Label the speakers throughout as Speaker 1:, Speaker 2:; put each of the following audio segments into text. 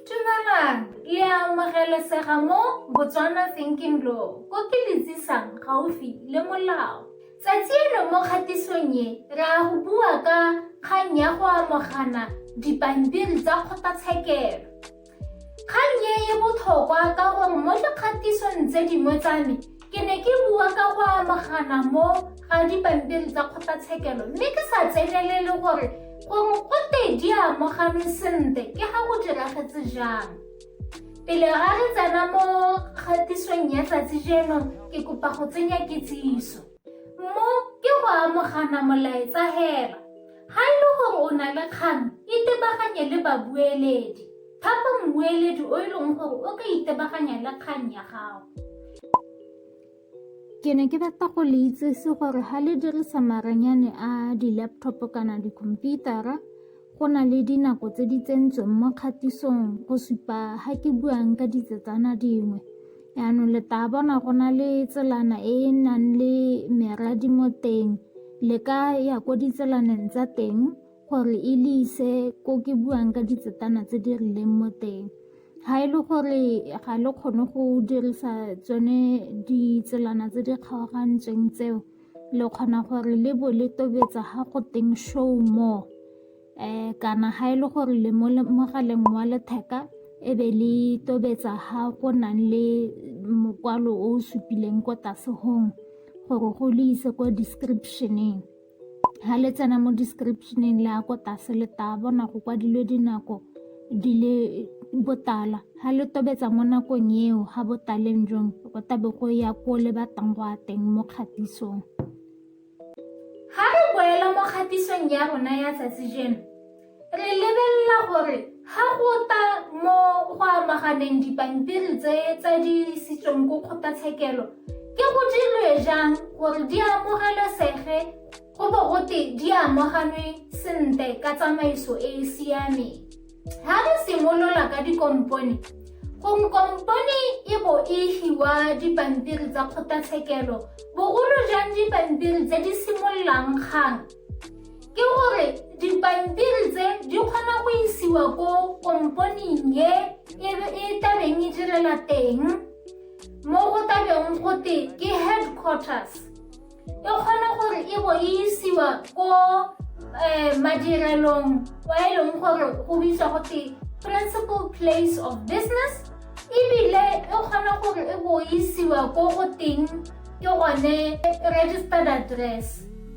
Speaker 1: Dumelang, le a amogelesega mo Botswana Thinking Law, ko ke le tsisang gaufi le molao. Tsatsi eno mo kgatisong e, re a go bua ka kgang ya go amogana dipampiri tsa kgotlatshekelo. Kgang e e botlhokwa ka gore mo dikgatisong tse dingwe tsa me, Ke ne ke bua ka go amagana mo ga dipampiri tsa kgotlatshekelo mme ke sa tsenelele gore gore go te di amoganwe sentle ke ga go diragetse jang. Pele ga re tsena mo kgatisong ya tsatsi jeno ke kopa go tsenya kitsiso. Mo ke go amogana molaetsa hela. Ga e le gore o na le kgang, itebaganye le babueledi. Thapa mmueledi o e leng gore o ka itebaganya le kgang ya gago. Ke ne ke rata go le itsese gore ga le dirisa maranyane a di-laptop kana dikhomputara go na le dinako tse di tsentsweng mo kgatisong go supa ga ke buang ka ditsetsana dingwe yaanong le taa bona go na le tselana e e nang le meradi mo teng le ka ya ko ditselaneng tsa teng gore e le ise ko ke buang ka ditsetana tse di rileng mo teng ga e le gore ga le kgone go dirisa tsone ditselana tse di kgaogantsweng tseo le kgona gore le bo le tobetsa ga go teng show more um kana ga e le gore le mo mogaleng wa letheka e be le tobetsa ga go nang le mokwalo o o supileng ko tlase gore go le ise kwa descriptioneng ha le tsena mo descriptioneng le ya ko tlase le tla bona go kwadilwe dinako di le botala ha le tobetsa mo nakong eo ha botaleng jong go tabe go ya ko le batlang go a teng mo kgatisong ga re boela mo kgatisong ya rona ya tsatsi jeno Re lebelela gore ga go ta mo go amaganeng dipampiri tse tsa di isitsweng ko kgotlatshekelo ke go dirwe jang gore di amogelesege go bo gote di amoganwe sentle ka tsamaiso e e siameng ga re simolola ka dikompone gong kompone e bo e hiwa dipampiri tsa kgotlatshekelo bogolo jang dipampiri tse di simololang kgang ke gore dipampiri tse di kgona go isiwa ko komponing ye e, e tabeng e direla teng mo go tabeng go te ke headquarters e kgona gore e bo e isiwa ko um madirelong wa e leng gore go bitswa go te principal place of business ebile e kgona gore e bo isiwa ko go teng ke gone registered address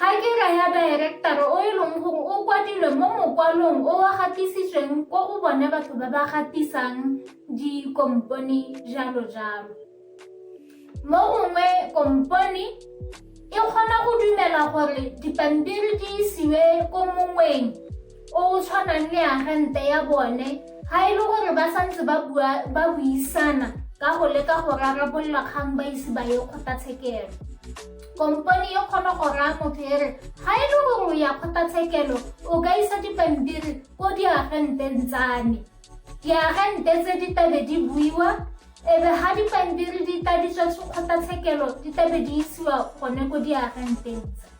Speaker 1: Ga ke ra ya daerektara o e leng gore o kwadilwe mo mokwalong o wa gatisitsweng ko go bone batho ba ba gatisang dikompone jalo jalo. Mo gongwe kompone e kgona go dumela gore dipampiri di isiwe ko mongweng o o tshwanang le agente ya bone ga e le gore ba santse ba buisana ka go leka go rarabolola kgang ba ise ba ye kgotlatshekelo kompone e kgona go raya motho e re ga e le gore o ya kgotlatshekelo o ka isa dipampiri ko diagenteng tsane diagente tse di tabe di buiwa ebe ga dipampiri di tladitswa kgotlatshekelo di tabe di isiwa gone ko diagenteng tse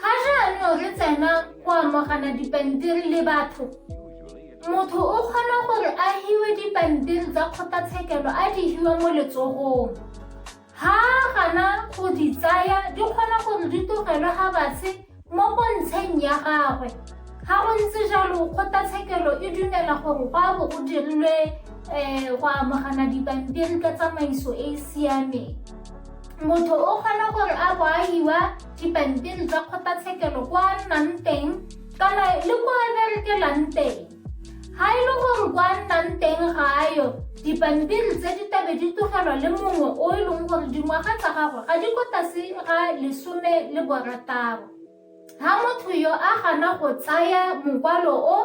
Speaker 1: ga jaanong re tsena go amogana dipampiri le batho motho o kgona gore a hiwe dipampiri tsa kgotlatshekelo a di hiwa mo letsogong ha gana go di tsaya di kgona gore di togelwe ga batshe mo bontsheng ya gagwe ga go ntse jalo kgotlatshekelo e dumela gore go a bo go dirilwe um go amogana dipampiri ka tsamaiso e e siameng motho o kgona gore a boahiwa dipampiri tsa kgotlatshekelo kwa a nnang teng kana le kwa a berekelang teng ga e le gore kwa a nnang teng ga a yo dipampiri tse di tabe di tlogelwa le mongwe o e leng gore dingwaga tsa gagwe ga di ko tlase ga lesome le borataro ga motho yo a gana go tsaya mokwalo o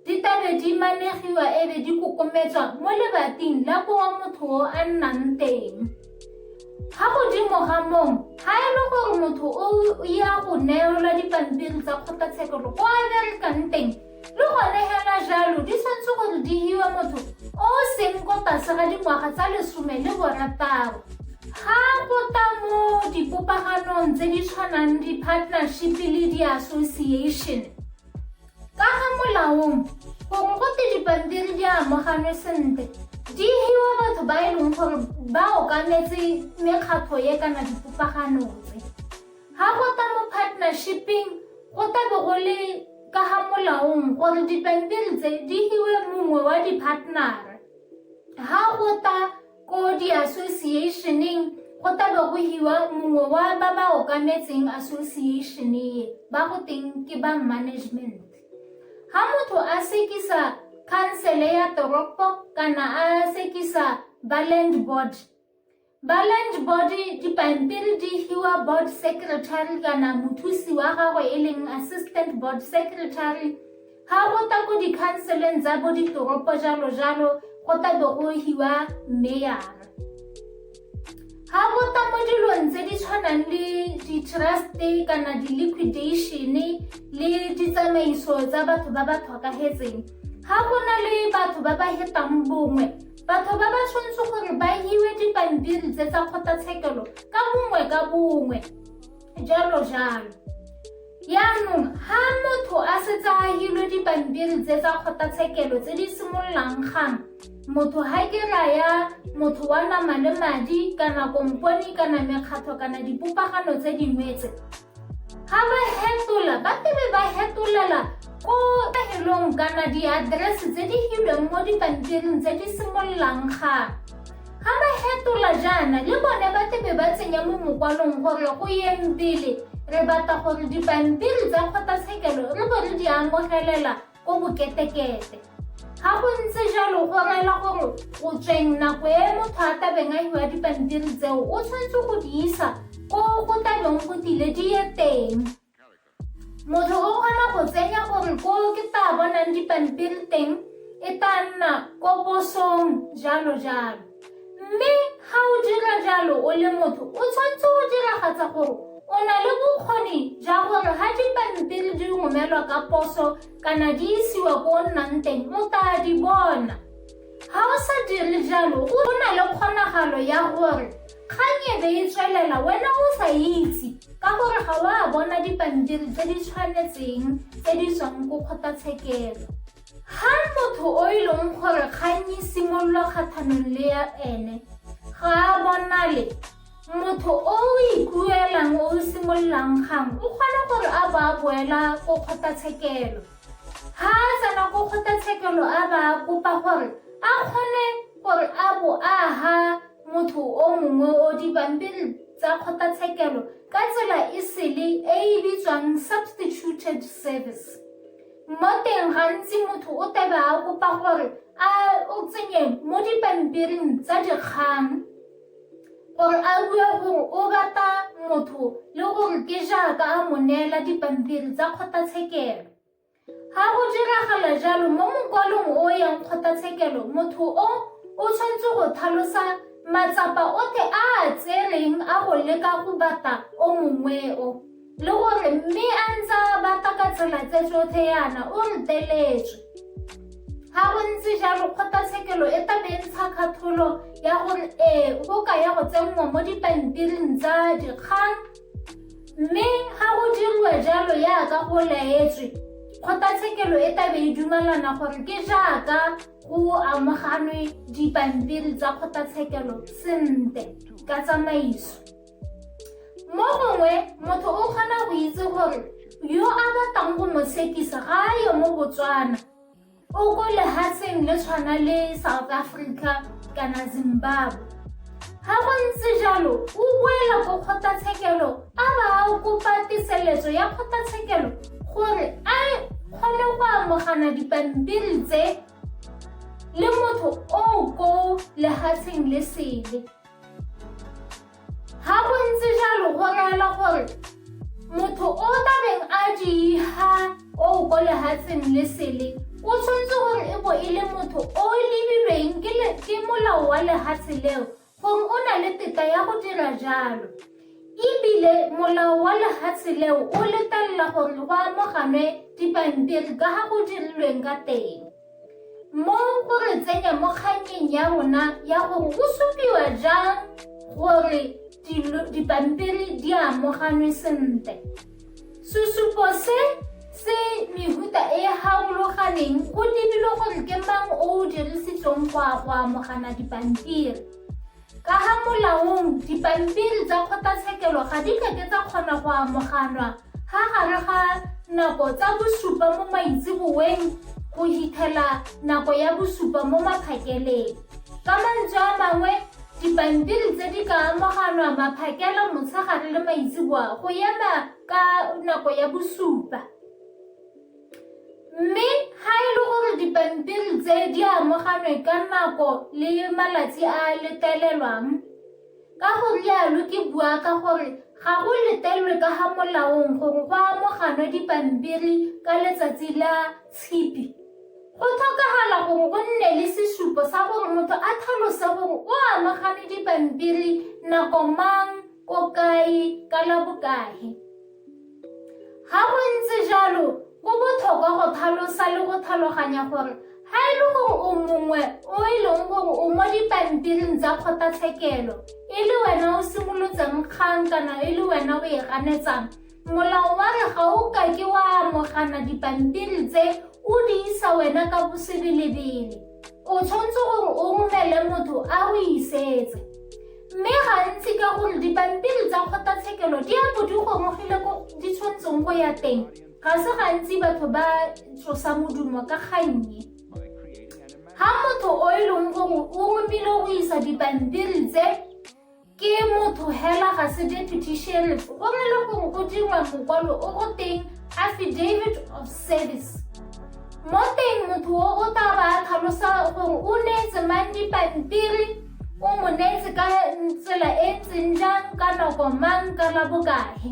Speaker 1: ditabe di manegiwa e be di kokometswa mo lebating la kowa motho o a nnang teng Ga godimo ga moo, ga e le gore motho o ya go neelwa dipampiri tsa kgotlatshekelo kwa a berekang teng, le gone hela jalo di tshwanetse gore di hiwe motho o o seng ko tlase ga dingwaga tsa lesome le borataro. Ga go ta mo dipopaganong tse di tshwanang di-partnership le di-association, Ka ga molaong, gongwe go te dipampiri di amoganwe sentle, di hiwa batho ba e leng gore ba okametse mekgatlho ye kana dipopagano tse. Ga go ta mo partnershiping, go ta be go le ka ga molaong gore dipampiri tse di hiwe mongwe wa di-partner-ra. Ga go ta Ko diasosieišeneng go tla bo go hiwa mongwe wa ba ba okametseng asosieišene ye ba go teng ke ba management ga motho a sekisa khansele ya toropo kana a sekisa ba land board ba land board dipampiri di hiwa board secretary kana mothusi wa gagwe e leng assistant board secretary Ga go ta ko dikhanseleng tsa bo ditoropo jalo jalo go ta bo go hiwa meyara. Ga go ta mo dilong tse di tshwanang le di-trust-e kana di-liquidation-e le ditsamaiso tsa batho ba ba tlhokagetseng. Ga go na le batho ba ba hetang bongwe batho ba ba tshwanetse gore ba hiwe dipampiri tse tsa kgotlatshekelo ka bongwe ka bongwe jalo jalo yaanong ga motho a setse a hilwe dipampiri tse tsa kgotlatshekelo tse di simololang gang motho ga ke raya motho wa nama le madi kana komponi kana mekgatlho kana dipopagano tse dingwetse ga ba hetola ba tebe ba hetolela ko pegelong kana diaterese tse di hilweng mo dipampiring tse di simololang gang Ga ba hetola jaana, le bone ba tlebe ba tsenya mo mokwalong gore go yeng pele re batla gore dipampiri tsa kgotlatshekelo re bo re di amogelela ko boketekete. Ga go ntse jalo go rela gore o tsweng nako e motho a tabeng a hiwa dipampiri tseo o tshwanetse go di isa ko go tabeng go tile di ye teng. Motho o kgona go tsenya gore ko ke ta bonang dipampiri teng e tla nna ko posong jalo jalo mme ga o dira jalo o le motho o tshwanetse go diragatsa gore o na le bokgoni jwa gore ga dipampiri di romelwa ka poso kana di isiwa ko o nnang teng o taa di bona ga o sa dire jalo o na le kgonagalo ya gore Kgang e be e tswelela wena o sa itse ka gore ga o a bona dipampiri tse di tshwanetseng tse di tswang ko kgotlatshekelo. Ga motho o e leng gore kgang e simololwa kgatlhanong le ya ene ga a bonale, motho o o ikuelang o o simololang kgang o kgona gore a ba a boela ko kgotlatshekelo. Ga a tsena ko kgotlatshekelo a ba a kopa gore a kgone gore a bo a ha motho o mongwe o dipampiri tsa kgotlatshekelo ka tsela e sele e e bitswang substituted service mo teng gantsi motho o tebe a kopa gore a o tsenye mo dipampiring tsa dikgang gore a bue gore o rata motho le gore ke jaaka a mo neela dipampiri tsa kgotlatshekelo Ga go diragala jalo mo mokwalong o o yang kgotlatshekelo, motho o o tshwanetse go tlhalosa matsapa otlhe a a tsereng a go leka go bata o mongweo le gore mme a ntse a bata ka tsela tse tsotlhe yana o reteletswe. Ga go ntse jalo kgotlatshekelo e tla be e ntsha kgatholo ya gore ee go ka ya go tsenngwa mo dipampiring tsa dikgang Mme ga go dirwe jalo yaaka go laetswe, kgotlatshekelo e tlabe e dumalana gore ke jaaka go amoganwe dipampiri tsa kgotlatshekelo sente ka tsamaiso. Mo gongwe motho o kgona go itse gore yo a batlang go mo tshekisa ga a yo mo Botswana. o ko lehatsheng le tshwana le south africa kana zimbabwe ga go ntse jalo o boela ko kgotlatshekelo a ba a kopa teseletso ya kgotlatshekelo gore a kgone go amogana dipampiri tse le motho o ko lehatsheng le sele Ga go ntse jalo go reela gore motho o tabeng a diha o ko lehatsheng le sele o tshwanetse gore e bo e le motho o lebilweng ke molao wa lehatshe leo gore o na le tetla ya go dira jalo ebile molao wa lehatshe leo o letelela gore go amoganwe dipampiri ka ga go dirilweng ka teng Mo o re tsenya mo kganyeng ya rona ya gore go supiwa jang gore dipampiri di amoganwe sentle. Sesupo se se mehuta e e harologaneng go lebilwe gore ke mang o o dirisitsweng go amogana dipampiri. Ka ga molaong, dipampiri tsa kgotlatshekelo ga di kake tsa kgona go amoganwa ga gare ga nako tsa bosupa mo maitseboeng go hitlhela nako ya bosupa mo maphakeleng. Ka mantswe a mangwe, dipampiri tse di ka amoganwa maphakela motshegare le maitseboa go ema ka nako ya bosupa. Mme ga e le gore dipampiri tse di amoganwe ka nako le malatsi a a letelelwang, ka go rialo ke bua ka gore ga go letelwe ka ga molaong gore go amoganwe dipampiri ka letsatsi la tshipi, go tlhokagala gore go nne le sesupo sa gore motho a tlhalose gore o amogane dipampiri nako mang, ko kae, ka la bokae. Ga go ntse jalo, go botlhokwa go tlhalosa le go tlhaloganya gore ga e le gore o mongwe o e leng gore o mo dipampiring tsa kgotlatshekelo e le wena o simolotseng kgang kana e le wena o e ganetsang molao wa re ga o ka ke wa amogana dipampiri tse o di isa wena ka bosebelebele o tshwanetse gore o romele motho a o isetse mme gantsi ka gore dipampiri tsa kgotlatshekelo di a bo di gomogile ko di tshwanetseng go ya teng ga se gantsi batho ba tsosa modumo ka gannye ga motho o e leng gore o romile go isa dipampiri tse ke motho hela ga se deputy sheriff gongwe le gongwe go dirwa mokwalo o go teng affidavit of service mo teng motho o o tla ba tlhalosa gore o neetse mang dipampiri o mo neetse ka tsela e ntseng jang ka nako mang ka la bokae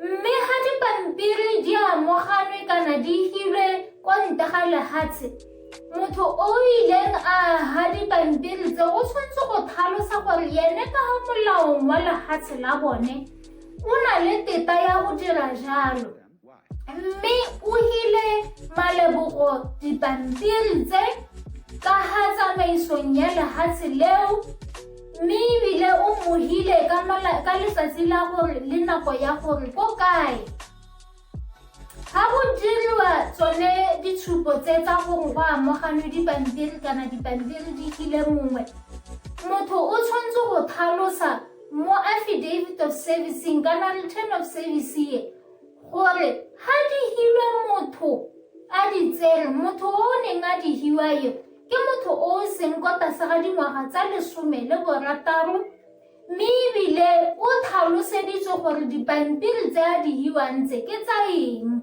Speaker 1: Mme ga dipampiri di amoganwe kana di hilwe kwa ntle ga lehatshe, motho o ileng a ha dipampiri tse o tshwanetse go tlhalosa gore yene ka ga molaong wa lehatshe la bone o na le teta ya go dira jalo. Mme o hile malebogo dipampiri tse ka ha tsamaisong ya lehatshe leo mme ebile o mo hile ka letsatsi la gore le nako ya gore ko kae ga go diriwa tsone ditshupo tse tsa gore go amoganwe dipampiri kana dipampiri di hile mongwe motho o tshwanetse go tlhalosa mo affidavit of servicing kana return of service ye gore ha di hilwe motho a di tsere motho o o neng a di hiwa yo ke motho o o seng kwa tlase ga dingwaga tsa lesome le borataro mme ebile o tlhaloseditswe gore dipampiri tse a di hiwang tse ke tsa eng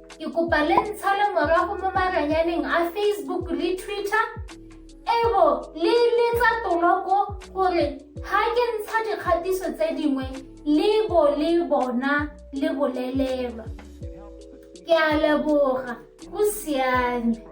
Speaker 1: Ke kopa le ntshale morago mo maranyaneng a Facebook le Twitter ebo le letsa toloko gore ga ke ntsha dikgatiso tse dingwe le bo le bona le bolelelwa ke a leboga go siame